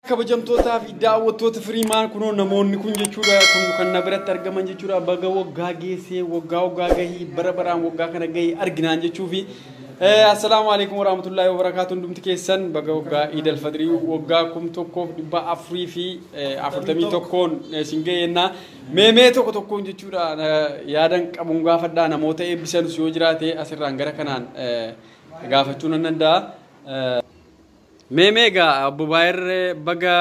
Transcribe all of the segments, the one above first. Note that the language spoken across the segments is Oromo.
kabajamtootaa fi daawwattoota firiimaan kunoo namoonni kun jechuudha kun kan na biratti argaman jechuudha baga waggaa geessee waggaa waggaa gahii bara baraan waggaa kana gahii arginaan jechuu fi assalaamu alaikum warahmatullaahi wabarakaatu hundumti keessan baga waggaa iidal fadrii waggaa kum tokkoof dhibba afurii fi afurtamii tokkoon isin ga'eennaa meemee tokko tokkoon jechuudha yaadan qabuun gaafadhaa namoota eebbisanus yoo jiraate asirraan gara kanaan gaafachuu nan danda'a. Mee mee egaa obbo Baayir baga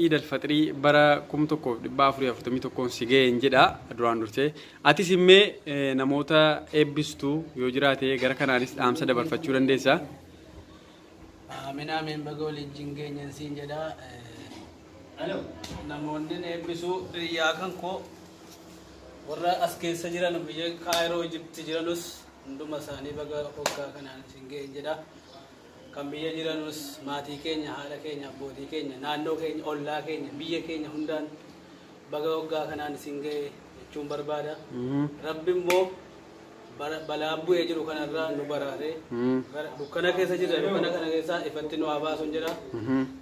Iid Alfaxirii bara 1441n si ga'een jedha duraan dursee. Atis immee namoota eebbistu yoo jiraate gara kanaanis dhaamsa dabarfachuu dandeessa. Amin amin baga waliin jingeenyan siin jedha. Namoonni eebbisu biyyaa kan koo warra as keessa jiran biyya Kaayiroo Ijipti jiranus hunduma isaanii baga waggaa kanaan siin ga'een jedha. Kan biyya jiranus maatii keenya, haadha keenya, abbootii keenya, naannoo keenya, ollaa keenya, biyya keenya hundaan baga waggaa kanaan isin ga'e jechuun barbaada. Rabbi immoo bara- balaan bu'ee jiru kanarraa nu baraaree bara- dukkana keessa jirra dukkana kana keessaa ifatti nu haa baasuun jedha.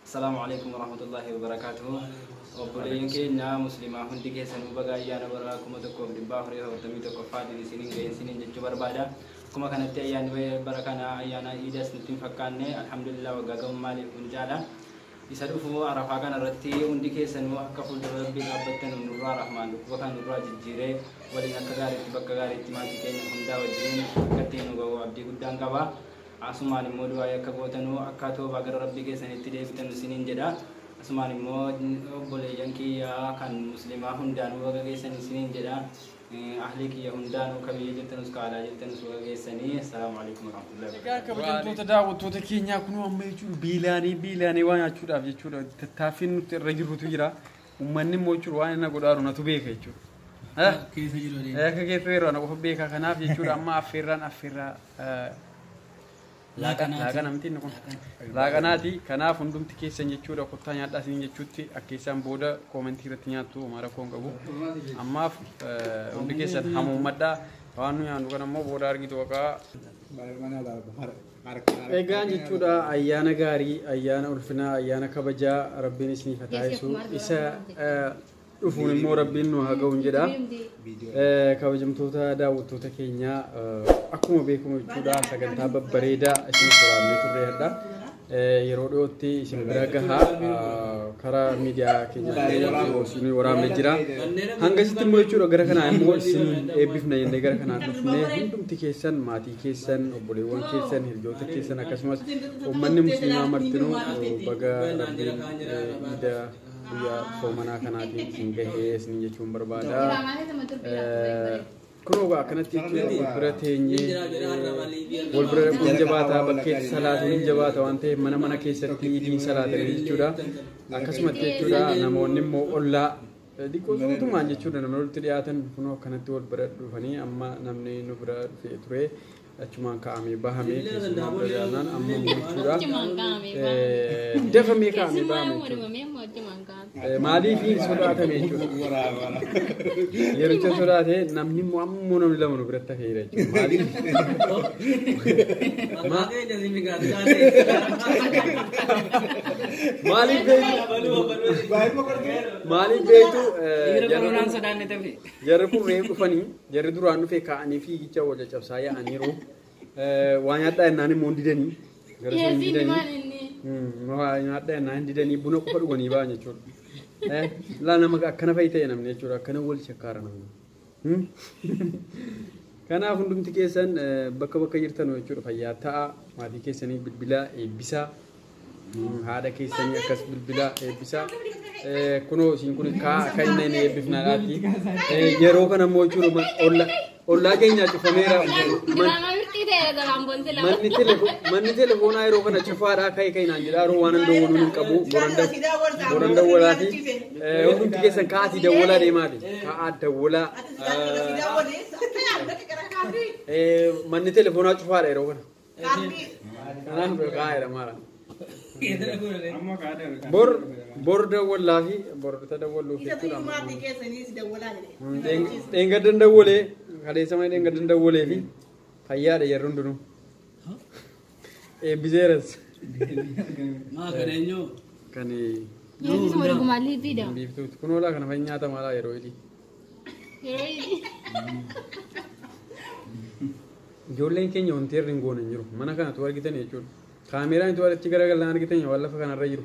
Assalaamu Aleeykum Warahmatullaahi Wabarakaatuhu Obboleeyyan keenya Muslimaa hundi keessanuu baga ayyaana bara 1441ffaatiin isiniin ga'e isiniin jechuu barbaada. Akkuma kanatti ayyaanni ba'e bara kana ayyaana iidas nutti hin fakkaanne alhamdulillah waggaa ga'uun maaliif kun caala. Isa dhufu arafaa kana irratti hundi keessanuu akka fuuldura rabbii dhaabbattanu nurraa rahmaan dhukkuba kana nurraa jijjiiree waliin akka gaariitti bakka gaariitti maatii keenya hundaa wajjin akka ittiin nu ga'u abdii guddaan qaba. Asumaan immoo du'aa'ii akka gootanu, akka toobaa gara Rabbii keessanitti deebitanu isiniin jedha. Asumaan immoo obboleeyyan kiyya kan Muslimaa hundaanuu baga geessan isiniin jedha. Ahlii kiyya hundaanuu ka biyya jirtanus ka alaa jirtanus baga geessanii. Assalaamu alaikum warahmatullahi Egaa wabarakatuh. kabajamtoota daawwattoota keenyaa kunoo amma jechuun beelaanee beelaanee waa nyaachuudhaaf jechuudha tattaaffiin nuti irra jirrutu jira. Uummanni immoo jechuudha waan inni godhaaru natu beeka jechuudha. Eh? Keessa jiru Eh, adeema. Akka keessa yeroo ana qofa beeka kanaaf jechuudha amma affeerraan affeerraa eh, Laaqanaati. laaqana miti inni kun Laaqana. laaqanaati kanaaf hundumti keessan jechuudha kottaa nyaadhaa isin jechuutti akka keessaan booda koomentii irratti nyaattu homaa rakkoo hin qabu ammaaf eh, hundi keessan hamuummadhaa waan nu nyaannu kan ammoo booda argitu waqaa Baay'ee manaa laala. Egaan jechuudha ayyaana gaarii, ayyaana ulfinaa, ayyaana kabajaa rabbiin isiniif haa taasisu. Isa eh, dhufuun immoo rabbiin nu haa ga'uun jedha. Eh, Kabajamtoota daawwattoota keenyaa eh, akkuma beekamu jechuudha sagantaa babbareedaa isin soraannee turre hadha. Eh, Yeroo dhiyootti isin bira gahaa eh, karaa miidiyaa keenyaa isin waraabne jira. Hanga isitti immoo jechuudha gara kanaa immoo isin eebbifna jennee gara kanaa dhufnee hundumti keessan maatii keessan obboleewwan keessan hirjoota keessan akkasumas uummanni musliimaa martinuu baga rabbiin iida guyyaa soomanaa kanaatiin isin gahee isin jechuun barbaada. Kun ogaa akkanatti wal bira teenyee wal bira dhaquun hin jabaataa bakkeetti salaatuun hin jabaata waan ta'eef mana mana keessatti idiin salaatanii jechuudha. Akkasumatti jechuudha namoonni immoo ollaa Diqoo suutumaan jechuudha namni walitti dhiyaatan kunoo akkanatti wal bira dhufanii amma namni nu bira dhufee ture achumaan kaa'amee bahamee keessumaa bira gaanaan amma immoo jechuudha. Achumaan kaa'amee Eh, Dafamee kaa'amee Keessumaa bahamee yoo jechuudha. dhumamee immoo achumaan kaa'amee. Eh, Maaliif hin sodaatame jechuudha. Yericha sodaate namni immoo ammoo namni lama nu biratti hafeera jechuudha. Maaliif? Maaliif beektu? Baay'ee boqonnee. Maaliif beektu jarri kun reef dhufanii jarri duraan dhufee kaa'anii fiigicha wal caccabsaa yaa'aniiru. Waa nyaadhaa jennaan immoo hin didanii. Gara sun hin didanii. Waa nyaadhaa jennaan hin didanii buna qofa dhuganii ba'an jechuudha. Laa nama akkana fa'i ta'e namni jechuudha akkana wal shakkaara namni. Kanaaf hundumti keessan bakka bakka jirtan jechuudha fayyaa ta'a maatii keessanii bilbilaa eebbisaa haadha keessanii akkas bilbilaa eebbisaa kunoo isin kun kaa akka inni inni eebbifnaa laatti yeroo kana immoo jechuudha olla ollaa keenyaa cufameera manni telefoon manni telefoonaa yeroo kana cufaadhaa ka'e ka'inaan jedhaa yeroo waan hin dawwaluun hin qabu boran dawwalaa fi Hundumti keessan ka'aatii dawwalaa deemaati. Ka'aa dawwalaa. Manni telefoonaa cufaadha yeroo kana. Kanaaf kaa'eera maala. Bor bor dawwallaa fi bor ta dawwalluuf jechuudha. Dheengaddan dawwalee kaleessa mana dheengaddan dawwalee fi fayyaadha yeroo hundinuu. Eebbiseeras. Maa kan eenyuu? Kan Yesus wal gumaallee fiida. biiftuuti. Kun hoolaa kana fa'i nyaata maalaa yeroo hidhii. Yeroo inni Ijoolleen keenya wanti irra hin goone hin jiru. Mana kanatu argitan jechuudha. Kaameeraan itti walitti garagalan argitan waan lafa kanarra jiru.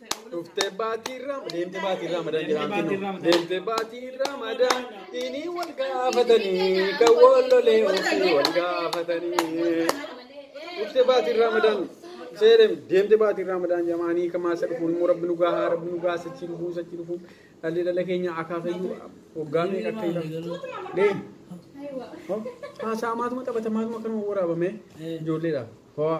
Dhuftee baatii irraa deemtee baatii irraa madaan jiraantu deemtee baatii irraa madaan inni wal gaafatanii kan wal lolee ofii wal gaafatanii. Dhuftee baatii irraa madaan seerem deemtee baatii irraa madaan jamaanii kan maasa dhufuun immoo rabbi nu gahaa rabbi nu gahaa sachii dhufuu sachii dhufuu dhalli dhala keenya akaasayyuu waggaa meeqa akka jedhamu. Deem. Haasaa maatuma taphata maatuma kanuma waraabame ijoolleedha. Hawaa.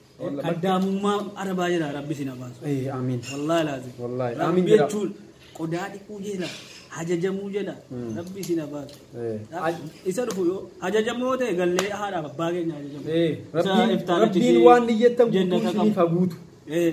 Kaddaamummaa arabaa jira rabbi sin abaasu. Ee, Amiin. Wallaahi laazim. Wallaahi, Rabbi amiin jedha. jechuun qodaa dhiquu jira hajajamuu jira rabbi sin abaasu. Ee. Isa dhufu yoo hajajamoo ta'e gallee haadhaaf abbaa keenya hajajamu. Ee, Isa Rabbiin iftaanichi Rabbiin si waan niyyattan guutuu jennata isiniif qabu. haa guutu. Ee.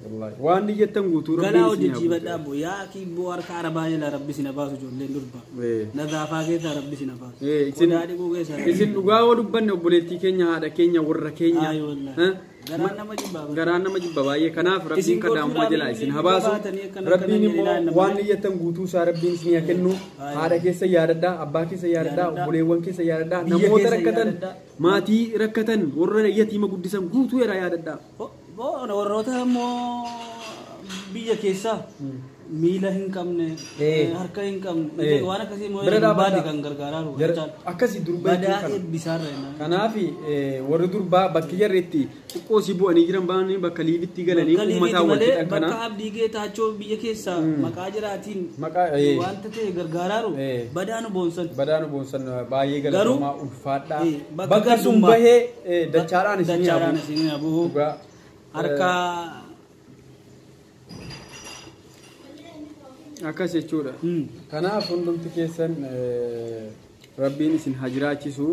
Wallaahi. Waan ni jettan guutuu Galaa rabbiin hojii isin haa jiibadhaa guutu. immoo yaa akii immoo harka arabaa jala rabbi sina baasu ijoolleen durba. Ee. Nagaafaa keessaa rabbi sina baasu. Ee, isin- Qodaa dhiquu keessaa rabbi Isin sina dhugaa yoo dubbanne obboleettii keenya haadha keenya warra keenya. Ayi wallahi. Eh? Garaan nama jibbaa bara. Garaan nama jibba baay'ee kanaaf rabbiin Isin kadhaamuma gochuudhaaf jalaa isin isin habaasu. baatanii akkana Rabbiin akkana immoo jedhinaan nama waan jedhu. niyyattan guutuu isaa rabbiin isin haa kennu. Ayi. Haadha keessa yaadadhaa, abbaa keessa yaadadhaa, Yaadadhaa. obboleewwan keessa yaadadhaa, Biyya namoota keessa rakkatan, yaadadhaa. maatii rakkatan, warra yatiima guddisan guutuu irraa yaadadhaa. Bo'oon warroota immoo biyya keessaa miila hin qabne, Eh. harka hin qabne, Eh. waan akkasii immoo Bira durbaa dhaabbata. kan gargaaraa jiru. Gara- jechaadha. Akkasii durbaa Badaa jechuun kana. eebbisaarra jennaan. Kanaaf eh, warri durbaa bakki jarri itti xiqqoo si bu'anii jiran baanii bakka liibitti galanii Bakka uummataa liibiiti wal malee jedhan bakka kana. abdii geetaachoo biyya keessaa Mm. maqaa jiraatiin Maqaa, eh. wanta ta'e gargaaraaru Eh. badaa nu boonsan. Badaan boonsan baay'ee Garuu- galatoomaa ulfaadhaa. Eh, bakka Bakka sun gandummaa. bahee Eh, dachaadhaan isin dachaadhaan hafu. isin hafu Dhugaa. harka Akkas jechuudha. Hmm. Kanaaf hundumti keessan eh, rabbiin isin haa jiraachisu.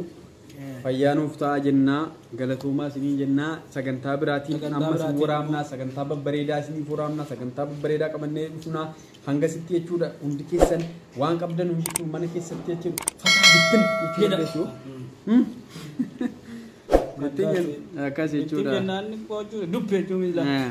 Eh. Fayyaa nuuf ta'a jennaa galatoomaa isiniin jennaa sagantaa biraatiin Sagantaa ammas biraatiin waraabnaa sagantaa babbareedaa isiniif waraabnaa sagantaa babbareedaa qabannee dhufnaa Hanga sitti jechuudha hundi keessan waan qabdan hundi jechuun mana keessatti jechuudha fataa bittin jechuudha jechuudha. Ittiin jennu akkas Ittiin jechuudha. jennaan qochuu dubbee jechuun miila. Eh.